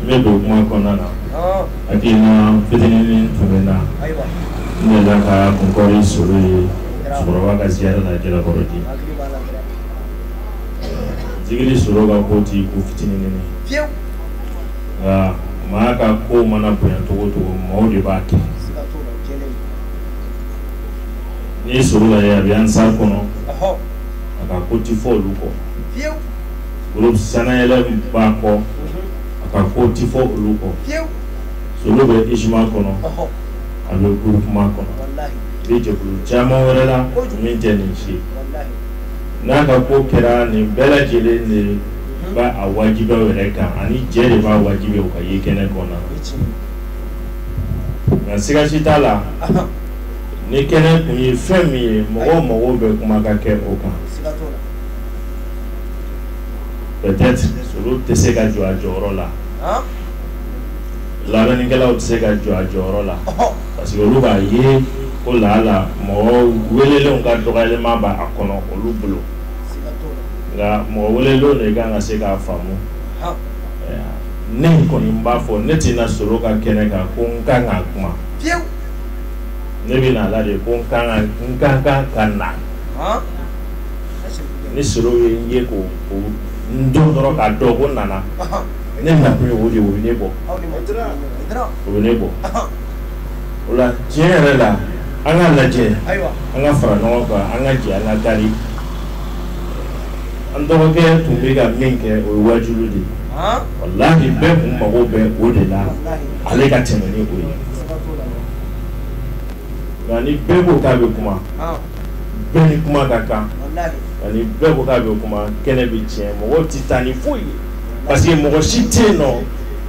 ne don kuma kɔnɔna na hakilina fitinin tun bɛ n na n delila ka kunkɔri solo ye musokɔrɔba ka ziyara la jalakɔrɔji zikiri solo ka ko ti ko fitinin nka maa ka ko mana bonya cogo cogo maaw de b'a kɛ n'i solo lajɛ a bɛ ansar kɔnɔ a ka ko ti fɔ olu kɔ olu sanyla b'a kɔ a ka ko ti fɔ olu kɔ solo bɛ ujma kɔnɔ a bɛ groupement kɔnɔ bɛ jɛkulu caman wɛrɛ la min tɛ nin si n'a ka ko kɛra nin bɛɛ lajɛlen de b'a wajibiya u yɛrɛ kan ani jɛ de b'a wajibiya u ka ye kɛnɛ kɔnɔ nka siga si t'a la ni kɛnɛ kun ye fɛn min ye mɔgɔ o mɔgɔ bɛ kuma ka kɛ o kan tɛ se ka jɔ a jɔyɔrɔ la labɛnnikɛlaw tɛ se ka jɔ a jɔyɔrɔ la parce que olu b'a ye ko lala mɔgɔ welelenw ka dɔgɔyalenma b'a kɔnɔ olu bolo nka mɔgɔ welelenw de kan ka se k'a faamu ne kɔni b'a fɔ ne tɛ na solo ka kɛnɛ kan ko n kan ka kuma ne bɛ na a la de ko n kan ka na ni solo ye n ye ko n don dɔrɔn k'a dɔn ko n nana ne na ye o de ne bɔ u ne bɔ o la tiɲɛ yɛrɛ la an ka lajɛ an ka fara ɲɔgɔn kan an ka jɛ an ka kari an dɔgɔkɛ tun bɛ ka min kɛ o ye wajuli de walayi bɛɛ kun mago bɛ o de la ale ka tɛmɛ ni o ye nka ni bɛɛ ko k'a bɛ kuma bɛɛ ni kuma ka kan ni bɛɛ ko k'a bɛ kuma kɛnɛ bɛ tiɲɛ mɔgɔw tɛ taa ni foyi ye parce que mɔgɔ si tɛ yen n'o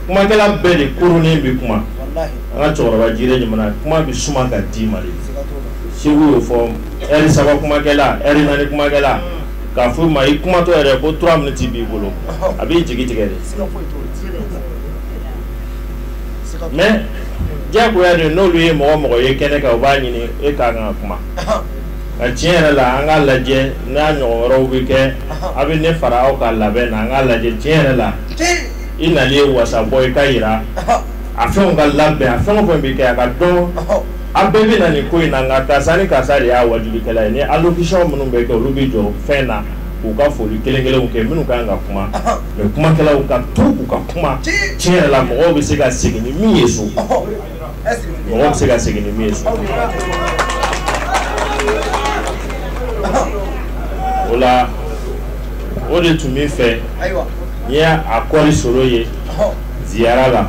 kumakɛla bɛɛ de koronnen bɛ kuma an ka cɛkɔrɔba jire jamana kuma bɛ suma ka di i ma de segu y'o fɔ ɛri saba kumakɛla ɛri naani kumakɛla k'a fɔ i ma i kumatɔ yɛrɛ ko trois minutes b'i bolo a b'i jigi tigɛ de mais diyagoya de n'olu ye mɔgɔ o mɔgɔ ye kɛnɛ kan u b'a ɲini e ka kan ka kuma nka tiɲɛ yɛrɛ la an k'a lajɛ n'a ɲɔgɔn wɛrɛw bɛ kɛ a bɛ ne fara aw ka labɛn na an k'a lajɛ tiɲɛ yɛrɛ la i nali ye wasa bɔ i k'a yira a fɛnw ka labɛn a fɛn o fɛn bɛ kɛ a k'a dɔn a bɛɛ bɛ na nin ko in na nka karisa ni karisa de y'a wajulikɛla ye ni allocution minnu bɛ kɛ olu b'i jɔ fɛn na k'u ka foli kelen kelenw kɛ minnu ka kan ka kuma. mais kumakɛlaw ka to u ka kuma tiɲɛ yɛrɛ la mɔgɔw bɛ se ka segin ni min ye so mɔgɔw bɛ se ka segin ni min ye so o la o de tun bɛ n fɛ n ye a kɔɔri soro ye ziyara la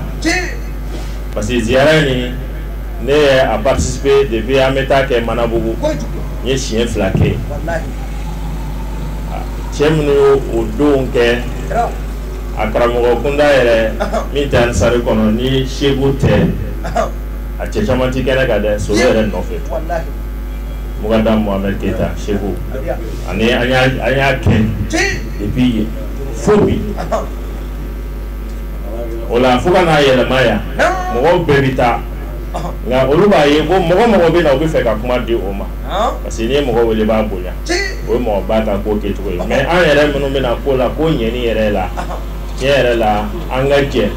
parce que ziyara nin ne ye a participer depuis an bɛ taa kɛ Manabugu n ye siɲɛ fila kɛ yen. cɛ minnu ye o don kɛ a karamɔgɔ kunda yɛrɛ min tɛ ansari kɔnɔ ni segu tɛ a cɛ caman tɛ kɛnɛ kan dɛ so yɛrɛ nɔfɛ mɔgɔ da mohamed keyita segu ani an y'a kɛ depuis yen fo bi o la fo ka n'a yɛlɛma yan mɔgɔw bɛɛ bɛ taa nka olu b'a ye ko mɔgɔ o mɔgɔ bɛ na u bɛ fɛ ka kuma di o ma parce que n'i ye mɔgɔ wele b'a bonya o ye mɔgɔ ba ta ko kɛcogo ye mais an yɛrɛ minnu bɛna ko la ko ɲɛni yɛrɛ la tiɲɛ yɛrɛ la an ka jɛn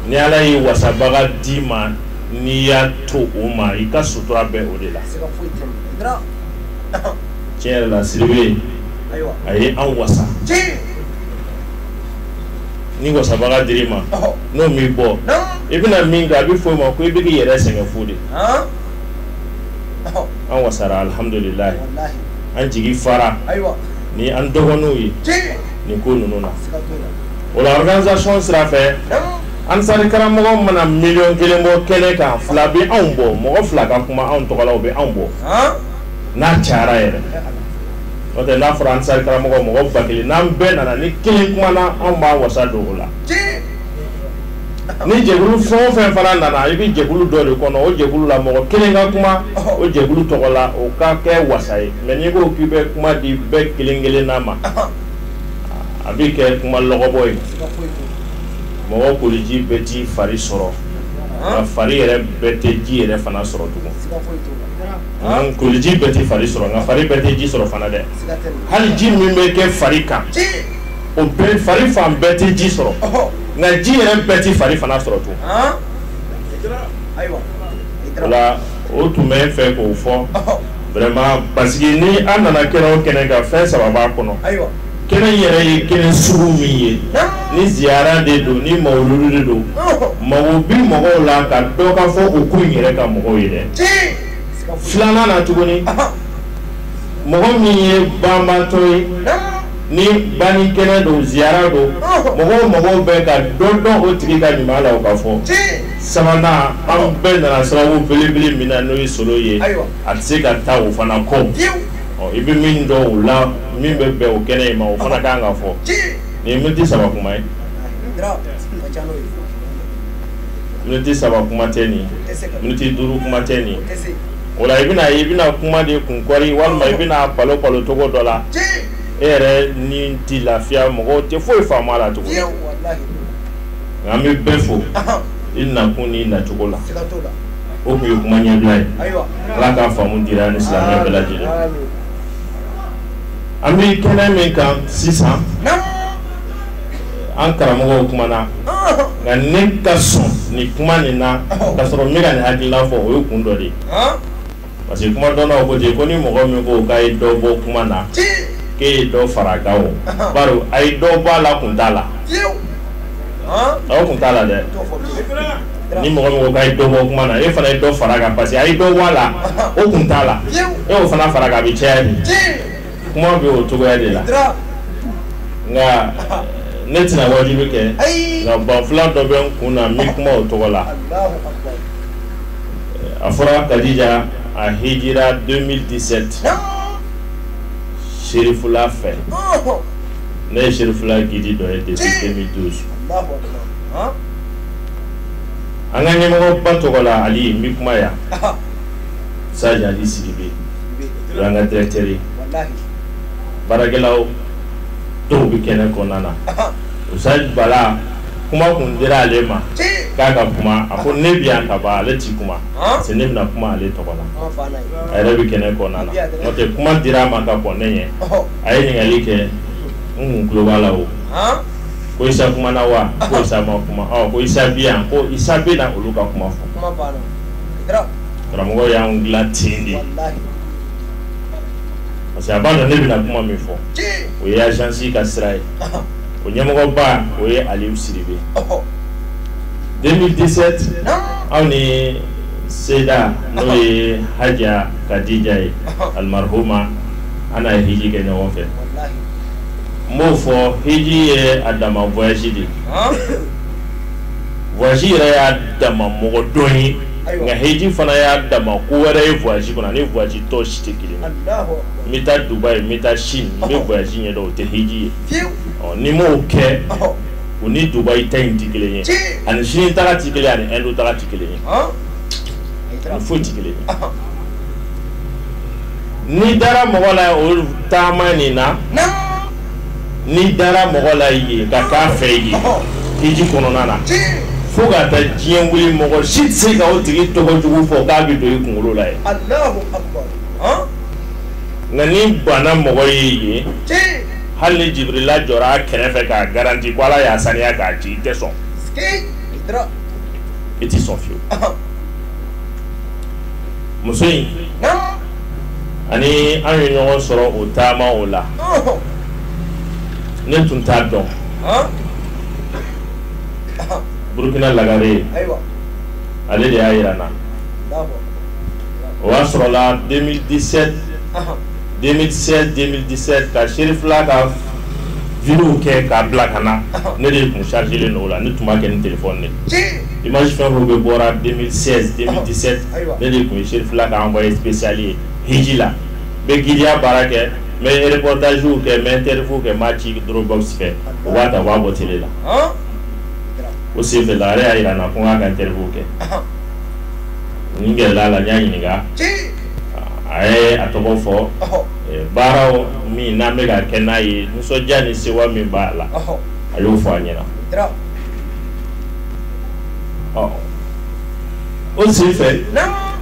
ni ala ye wasabaga d'i ma n'i y'a to o ma i ka sutura bɛ o de la tiɲɛ yɛrɛ la siribe a ye an wasa ni wasabaga dir'i ma n'o m'i bɔ i bɛna min kɛ a bɛ fɔ o ma ko i bɛ k'i yɛrɛ sɛgɛn fu de an wasara alihamdulilahi an jigi fara ni an dɔgɔninw ye nin ko ninnu na o la organisation sira fɛ ansari karamɔgɔ mana miliyɔn kelen bɔ kɛnɛ kan fila bɛ anw bɔ mɔgɔ fila ka kuma anw tɔgɔ la o bɛ anw bɔ n'a cayara yɛrɛ n'o tɛ n'a fɔra ansari karamɔgɔ mɔgɔ ba kelen n'an bɛɛ nana ni kelen kumana anw b'an wasa don o la. ni jɛkulu fɛn o fɛn fana nana i bɛ jɛkulu dɔ de kɔnɔ o jɛkulu la mɔgɔ kelen ka kuma o jɛkulu tɔgɔ la o ka kɛ wasa ye mais n'i ko k'i bɛ kuma di bɛɛ kelen kelenna ma a bɛ kɛ kuma lɔgɔbɔ ye mɔgɔ koliji bɛɛ t'i fari sɔrɔ nka fari yɛrɛ bɛɛ tɛ ji yɛrɛ fana sɔrɔ tugun koliji bɛɛ tɛ fari sɔrɔ nka fari bɛɛ tɛ ji sɔrɔ fana dɛ hali ji min bɛ kɛ fari kan o bɛɛ fari fan bɛɛ tɛ ji sɔrɔ nka ji yɛrɛ bɛɛ tɛ fari fana sɔrɔ tun wala o tun bɛ n fɛ k'o fɔ vraiment parce que ni an nana kɛnɛ o kɛnɛ kan fɛn saba b'a kɔnɔ kɛnɛ yɛrɛ ye kɛnɛ sugu min ye ni ziyara de don ni mawuludu de don mago bi mɔgɔw la k'a dɔn k'a fɔ u k'u yɛrɛ ka mɔgɔw ye dɛ filanan na tuguni mɔgɔ min ye banabaatɔ ye ni banni kɛnɛ don ziyara don mɔgɔ o mɔgɔ bɛ ka dɔ dɔn o tigi ka ɲuman la o ka fɔ sabanan an bɛɛ nana sababu belebele min na n'o ye solo ye a tɛ se ka taa o fana kɔ i bɛ min dɔn o la min bɛ bɛn o kɛnɛ in ma o fana ka kan ka fɔ nin ye miniti saba kuma ye miniti saba kuma tɛ nin miniti duuru kuma tɛ nin o la i bɛna i bɛna kuma de kun kɔri walima i bɛna balo balo cogo dɔ la e yɛrɛ ni tɛ lafiya mɔgɔw tɛ foyi faamu a la tugun nka an bɛ bɛɛ fo i nakun n'i nacogo la o tun ye kuma ɲɛbila ye ala ka faamu dira an ni silamɛ bɛɛ lajɛlen an bɛ kɛnɛ min kan sisan an karamɔgɔw kumana nka ne ka sɔn ni kuma nin na ka sɔrɔ ne ka nin hakilila fɔ o ye kun dɔ de parce que kumadɔnnaw ko ko ni mɔgɔ min ko k'a ye dɔ bɔ kuma na k'e ye dɔ fara a kan o bari a ye dɔ bɔ a la kun t'a la aw kun t'a la dɛ ni mɔgɔ mɔgɔ ka dɔ bɔ kuma na e fana ye dɔ fara kan parce que a ye dɔ bɔ a la o kun t'a la e y'o fana fara kan a bɛ caya de kuma bɛ o cogoya de la nka ne tɛna waajuli kɛ nka banfula dɔ bɛ n kun na n bɛ kuma o tɔgɔ la a fɔra kadija a hijira 2017 serifula fɛ ne ye serifula gidi dɔ ye depuis 2012 an ka ɲɛmɔgɔba tɔgɔ la ali n bɛ kuma yan saji ali sidibe an ka directeur ye walahi baarakɛlaw dɔw bɛ kɛnɛ kɔnɔna na Ahan. usayid bala kuma kun dira ale ma ci k'a ka kuma a ko ne bɛ yan ka ban ale ti kuma Ahan. parce que ne bɛna kuma ale tɔgɔ la an fa n'a ye a yɛrɛ bɛ kɛnɛ kɔnɔna na n'o tɛ kuma dira a ma ka kɔn ne ɲɛ ɔhɔ a ye ɲininkali kɛ n kun tulo b'a la o han ko isa kumana wa ko isa ma kuma ɔ ko isa bɛ yan ko isa bɛ na olu ka kuma fɔ kuma banna i taara karamɔgɔ y'an dilan ten de ye walahi parce que a b'a dɔn ne bɛna kuma min fɔ tiɲɛ o ye agence ka sira ye ɔhɔ o ɲɛmɔgɔba o ye Aliou Sidibe ɔhɔ 2017 naamu anw ni Seyda n'o ye Hadja Kadija ye ɔhɔ almarhuma an n'a ye hiji kɛ ɲɔgɔn fɛ walahi n b'o fɔ hiji ye a dama voyage de ye ɔn voyage yɛrɛ y'a dama mɔgɔdɔn ye nka heji fana y'a dama ko wɛrɛ ye voyage kɔnɔ a ni voyage tɔ si tɛ kelen n bɛ taa dubai n bɛ taa chine n bɛ voyage ɲɛdɔn o tɛ heji ye ɔ n'i m'o kɛ o ni dubai ta in tɛ kelen ye a ni chine taga tɛ kelen a ni inde taga tɛ kelen ye a ni foyi tɛ kelen ye n'i dara mɔgɔ la o taama nin na. n'i dara mɔgɔ la ye ka k'a fɛ ye i ji kɔnɔna na fo ka taa diɲɛ wuli mɔgɔ si tɛ se ka o tigi tɔgɔ jugu fɔ k'a bɛ don i kunkolo la ye nka n'i banna mɔgɔ ye ye hali ni jibirila jɔra a kɛrɛfɛ k'a garanti ko ala y'a saniya k'a ci i tɛ sɔn i tɛ sɔn fiyewu muso in ani an ye ɲɔgɔn sɔrɔ o taama o la ne tun t'a dɔn burukina lagare ye ale de y'a jira n na o y'a sɔrɔla 2017 2016 2017 ka serifila ka videow kɛ k'a bila ka na ne de tun chargelen don o la ne tun b'a kɛ ni téléphone de image fɛn fɛn bɛɛ bɔra 2016 2017 ne de tun serifila ka envoyé spécial ye hiji la n bɛ gidiya baara kɛ n bɛ reportagew kɛ n bɛ interview kɛ n b'a ci dɔrɔnbaw fɛ u b'a ta b'a bɔ télé la o senfɛ la ale y'a jira n na ko k'a ka terikɛ nin gɛlɛla la n y'a ɲininka a ye a tɔgɔ fɔ baaraw min n'an bɛka ka kɛ n'a ye nisɔndiya ni sɛwa min b'a la a y'o fɔ a ɲɛna o senfɛ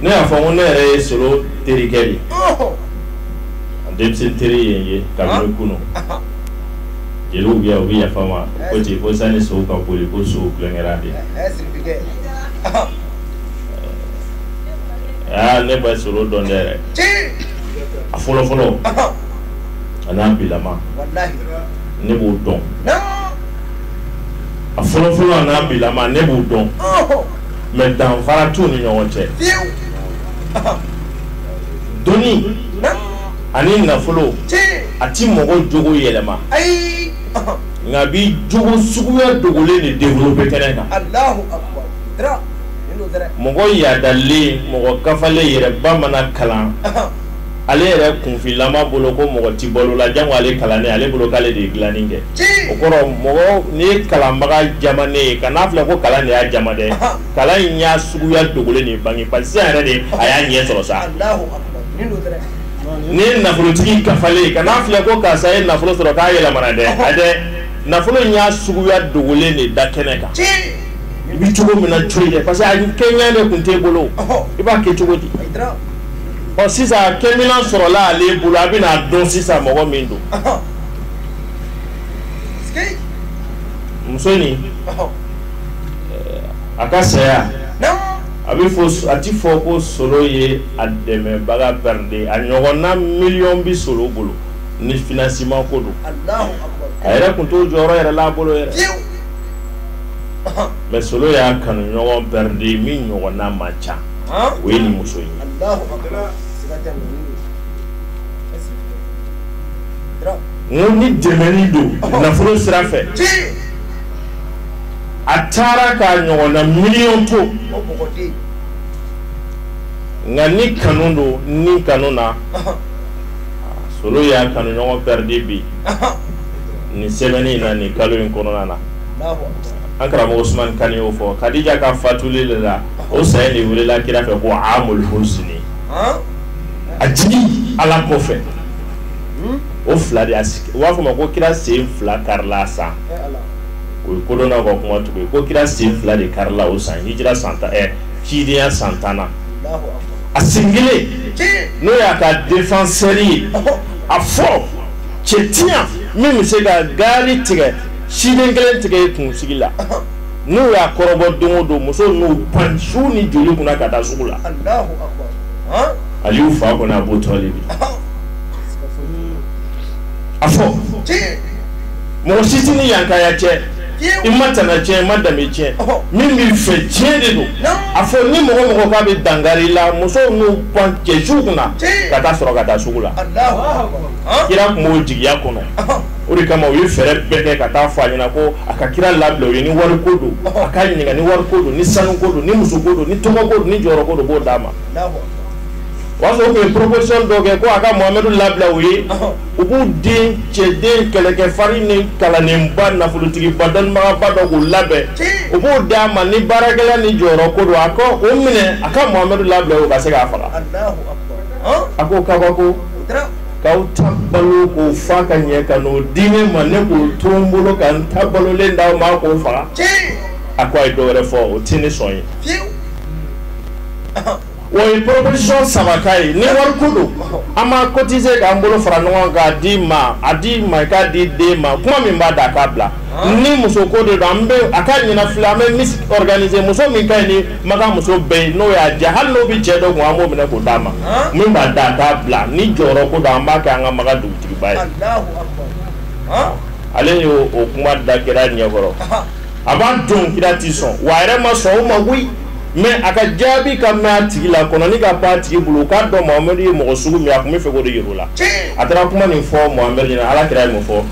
ne y'a fɔ ko ne yɛrɛ ye solo terikɛ de ye a denmisɛn teri ye n ye kabini kunun jeliw bɛ yan u bɛ yafa n ma ko ten ko sani sow ka boli ko sow tulonkɛra de aa ne bɛ solo dɔn dɛ a fɔlɔfɔlɔ a n'a bilama ne b'o dɔn. a fɔlɔfɔlɔ n'a bilama ne b'u dɔn mais danfara t'u ni ɲɔgɔn cɛ dɔnni ani nafolo a ti mɔgɔ jogo yɛlɛma nk'a b'i jogo suguya dogolen de développé kɛnɛ kan mɔgɔ yaadalen mɔgɔ kafalen yɛrɛba mana kalan Ale yɛrɛ kunfinlama bolo ko mɔgɔ tɛ b'ale la jan ale kalan ale bolo k'ale de ye dilai kɛ o kɔrɔ mɔgɔ n'i ye kalanbaga jamanen ye kana fili ko kalan de y'a jama dɛ kalan in y'a suguya dogolen de bange pa yɛrɛ de a y'a ɲɛ sɔrɔ sa n'i ye nafolotigi kafalen kana fili ko karisa ye nafolo sɔrɔ k'a yɛlɛmana dɛ a dɛ nafolo in y'a suguya dogolen de da kɛnɛ kan i bɛ cogo min na cogo parce que a kɛɲa de tun t'i bolo i b'a kɛ cogo di ɔ sisan kɛminan sɔrɔla ale bolo a bɛna dɔn sisan mɔgɔ min don muso nin a ka saya a bɛ fɔ a ti fɔ ko solo ye a dɛmɛbaga pɛridi a ɲɔgɔnna miliyɔn bi solo bolo ni finansiman ko don a yɛrɛ tun t'o jɔyɔrɔ yɛrɛ la a bolo yɛrɛ mɛ solo y'a kanu ɲɔgɔn pɛridi min ɲɔgɔnna man ca o ye nin muso in ye n ko ni dɛmɛni don nafolo sira fɛ a taara k'a ɲɔgɔnna miliyɔn to nka ni kanu don ni kanu na solo y'a kanu ɲɔgɔn pɛridi bi nin sɛmɛni in na nin kalo in kɔnɔna na an karamɔgɔ usumani kane y'o fɔ kadija ka fatuli de la o saya de welela kira fɛ ko amul huzni a jigi ala kɔfɛ hmm? o fila de y'a sigi u b'a fɔ ma ko kira sen fila karila a san eh, o ye kodɔnnaw ka kuma tugu ye ko kira sen fila de karila o san hijira san tan ɛ cidenya san tan na a sen kelen n'o y'a ka defansɛri ye a fɔ cɛ tɛ yan min bɛ se ka gaari tigɛ siden kelen tigɛ i kunsigi la n'u y'a kɔrɔbɔ don o don musow n'u pan su ni joli kunna ka taa sugu la aliyu fa kɔnɔ abu talibi a fɔ mɔgɔ si tɛ ni yankaya cɛ i ma tana tiɲɛ i ma danbe tiɲɛ min b'i fɛ tiɲɛ de don a fɔ ni mɔgɔ mɔgɔ k'a bɛ dankari i la musow n'u pan cɛ su kunna ka taa sɔrɔ ka taa sugu la kira tun b'o jigiya kɔnɔ o de kama u ye fɛɛrɛ bɛɛ kɛ ka taa fɔ a ɲɛna ko a ka kira labila u ye ni wari ko don a ka ɲininka ni wari ko don ni sanu ko don ni muso ko don ni tɔgɔ ko don ni jɔyɔrɔ ko don b'o d'a ma o y'a sɔrɔ u tun ye proposition dɔ kɛ ko a ka Mohamɛdu labila u ye u b'u den cɛden kɛlɛkɛfarin ni kalanenba nafolotigiba dɔnnibagaba dɔ k'u labɛn u b'o d'a ma ni baarakɛla ni jɔyɔrɔ ko don a ka o minɛ a ka Mohamɛdu labila u ka se k'a faga a k'o kabako k'aw ta balo k'o fa ka ɲɛ ka n'o di ne ma ne k'o to n bolo ka n ta balolen d'aw ma k'o faga a ko a ye dɔ wɛrɛ fɔ o tɛ ne sɔn ye u ye proposition saba k'a ye ni wari ko don an b'a cotiser k'an bolo fara ɲɔgɔn kan k'a d'i ma a d'i ma i k'a d'i den ma kuma min b'a da a k'a bila ni muso ko de don an bɛ a ka ɲina fila an bɛ misi organiser muso min ka ɲi ni maka muso bɛɛ ye n'o y'a diya hali n'o bɛ cɛ dɔ kun an b'o minɛ k'o d'a ma min b'a da a t'a bila ni jɔyɔrɔ ko don an b'a kɛ an ka maka dugutigiba ye ale y'o o kuma da kira ɲɛkɔrɔ a b'a dɔn kira tɛ sɔn wa a yɛrɛ ma sɔn o ma koyi mais a ka jaabi ka mɛn a tigi la kɔnɔnin ka pan a tigi bolo u k'a dɔn mohamɛdi ye mɔgɔ sugu min ye a tun b'a fɛ k'o de yir'u la a taara kuma nin fɔ mohamɛdi ɲɛna ala kira ye mun fɔ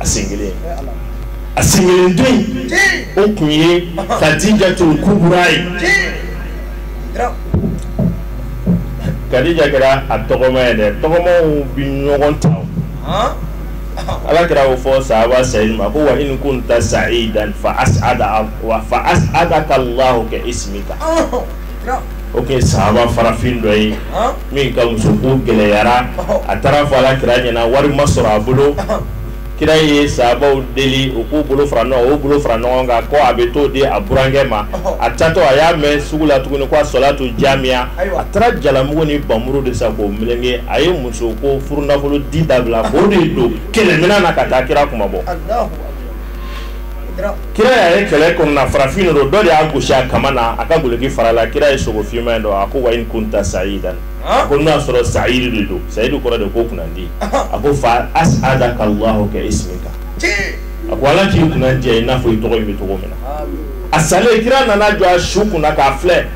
a sen kelen a sen kelen don in o tun ye kadija tul kubura ye kadija kɛra a tɔgɔma ye dɛ tɔgɔmaw bi ɲɔgɔn ta ala kira y'o fɔ sahaba sayidu ma ko wa in kunta sayidan fa asada wa fa asada ka lahu ka ismika o tun ye sahaba farafin dɔ ye min ka muso ko gɛlɛyara a taara a fɔ ala kira ɲɛna wari ma sɔrɔ a bolo kira ye sahabaw deli u k'u bolo fara o bolo fara ɲɔgɔn kan ko a bɛ t'o di a burankɛ ma a taatɔ a y'a mɛn sugu la tuguni ko asalatu jamiya a taara jalamugu ni npanmuru de san k'o meleke a ye muso ko furunafolo di dabila k'o de don kɛlɛminɛn na ka taa kira kunmabɔ kira y'a ye kɛlɛ kɔnɔna farafin de don dɔ de y'a gosi a kaman na a ka goloki farala kira ye sogo finman in dɔn a ko wa in kunta sayidan a ko n'a sɔrɔ sayidu de don sayidu kɔrɔ de ko kunnandi a ko fa as'ada ka Allahu ka ismika a ko ala k'i kunnandiya i n'a fɔ i tɔgɔ in bɛ cogo min na a salen kira nana jɔ a su kunna k'a filɛ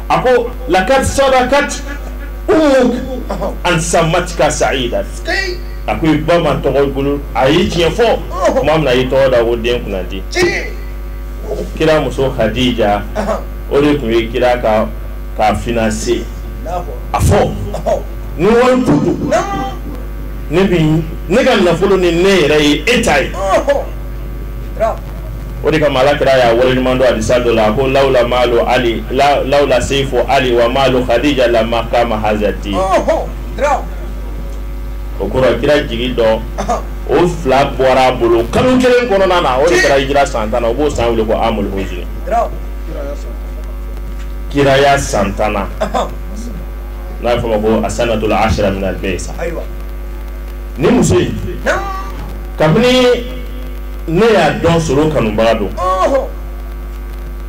a ko lakat sadakat umuk an samatika sayidan a ko i ba ma tɔgɔ bolo a ye tiɲɛ fɔ tuma min na a y'i tɔgɔ da ko den kunnadi kira muso hadija o de tun ye kira ka finance a fɔ ni wari tu don ne bi ne ka nafolo ni ne yɛrɛ ye e ta ye o de kama ala kira y'a waleɲuman dɔn hadisa dɔ la ko lawla maalo ali la- lawla seifo ali wa maalo hadija lama kama hazati o kɔrɔ kira jigi don o fila bɔra a bolo kalo kelen kɔnɔna na o de kɛra hijira san tan na o b'o san wele ko amul huzni kiraya san tan na n'a bɛ fɔ o ma ko asanatul ashira min al baysa ni muso in kabini ne y'a dɔn solo kanubaga don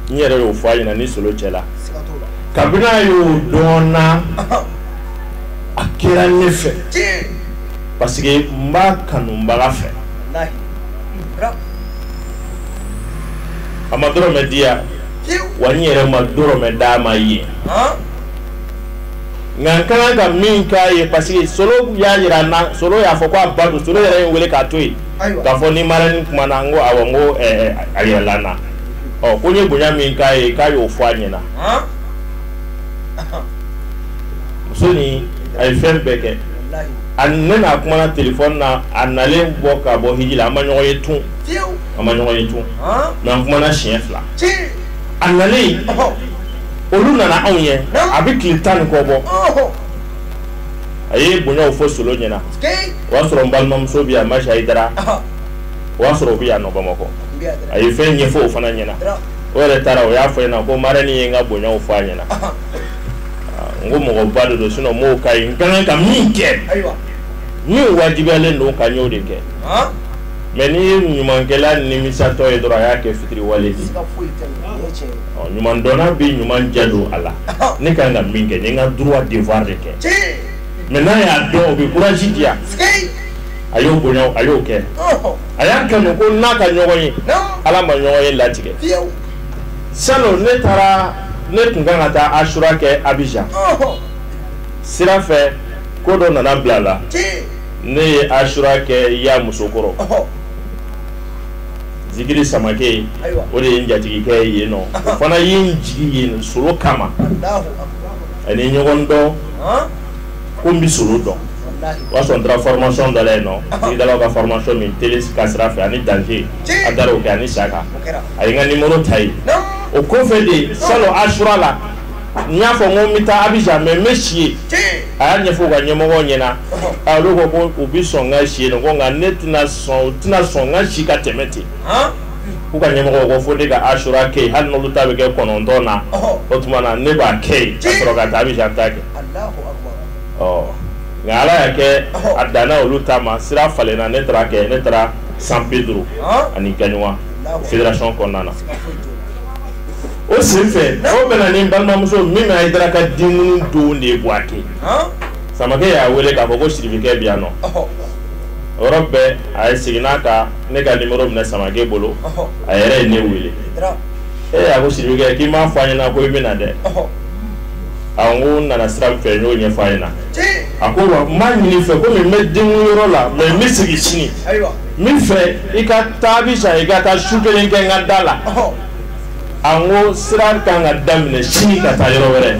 n yɛrɛ y'o fɔ a ɲɛna ni solo cɛla kabini a y'o dɔn na a kɛra ne fɛ parce que n b'a kanubaga fɛ a ma dɔrɔmɛ di yan wa n yɛrɛ ma dɔrɔmɛ d'a ma yen nka n ka kan ka min k'a ye parce que solo y'a jira n na solo y'a fɔ ko a ba don solo yɛrɛ ye n wele k'a to yen k'a fɔ ni marani kumana n ko awɔ n ko a yɛlɛla n na ɔ ko n ye bonya min k'a ye k'a y'o fɔ a ɲɛna muso nin a ye fɛn bɛɛ kɛ a ne n'a kumana telefɔni na a nalen bɔ ka bɔ hiji la an ma ɲɔgɔn ye tun an ma ɲɔgɔn ye tun mais an kumana siɲɛ fila a nalen olu nana anw ye a bɛ tile tan ni kɔ bɔ a ye bonyaw fɔ solo ɲɛna o y'a sɔrɔ n balimamuso bɛ yan masi ayidara o y'a sɔrɔ o bɛ yan nɔ bamakɔ a ye fɛn ɲɛfɔ o fana ɲɛna o yɛrɛ taara o y'a fɔ n ɲɛna ko marɛni ye n ka bonyaw fɔ a ɲɛna n ko mɔgɔba de don sinon n b'o k'a ye n ka kan ka min kɛ min wajibiyalen don n kan n y'o de kɛ mais n'i ye ɲumankɛla nimisatɔ ye dɔrɔn a y'a kɛ fitiriwale de ye ɲuman dɔnna bɛ ɲuman jɛ don a la ne ka kan ka min kɛ n ye n ka droit devoir de kɛ mais n'a y'a dɔn o bɛ courage di yan a y'o bonya a y'o kɛ a y'a kanu ko n'a ka ɲɔgɔn ye ala ma ɲɔgɔn ye latigɛ. salon ne taara ne tun kan ka taa asura kɛ abijan sira fɛ ko dɔ nana bila a la ne ye asura kɛ yamusukɔrɔ zikiri samake o de ye n jatigikɛ ye yen nɔ o fana ye n jigin yen solo kama an ye ɲɔgɔn dɔn ko n bɛ solo dɔn o y'a sɔrɔ n taara formation dɔ la yen nɔ sigidalaw ka formation min tele ka sira fɛ ani danger an taara o kɛ ani saka a ye n ka numéro ta yen o kɔfɛ de salon asura la n y'a fɔ n ko n bɛ taa Abidjan mais n bɛ si yen a y'a ɲɛfɔ u ka ɲɛmɔgɔw ɲɛna a olu ko ko u bɛ sɔn n ka si yen nɔ ko nka ne tɛna sɔn u tɛna sɔn n ka si ka tɛmɛ ten. k'u ka ɲɛmɔgɔ ko fo ne ka asura kɛ hali n'olu ta bɛ kɛ kɔnɔntɔn na o tuma na ne b'a kɛ ka sɔrɔ ka taa abijan ta kɛ ɔ nka ala y'a kɛ a danna olu ta ma sira falenna ne taara a kɛ ne taara San Pedro ani Gagnoa fédération kɔnɔna na o sen fɛ o bɛnna ni n balimamuso min bɛ ayidara ka denkundi don de ye buwake samake y'a wele k'a fɔ ko sirifikɛ bɛ yan nɔ o yɔrɔ bɛɛ ale sinna ka ne ka numéro minɛ Samake bolo, ɔhɔ, a yɛrɛ ye ne wele, Ayidara, ee a ko Sirifikɛ k'i m'a fɔ an ɲɛna ko i bɛ na dɛ, ɔhɔ, a n ko n nana sira min fɛ n y'o ɲɛfɔ a ɲɛna, tiɲɛ, a ko wa n b'a ɲini i fɛ komi n bɛ denkundi yɔrɔ la mais n bɛ segin sini, ayiwa, n b'a fɛ i ka taa bi sa i ka taa su kelen kɛ n ka da la, ɔhɔ. a n ko sira ka kan ka daminɛ sini ka taa yɔrɔ wɛrɛ.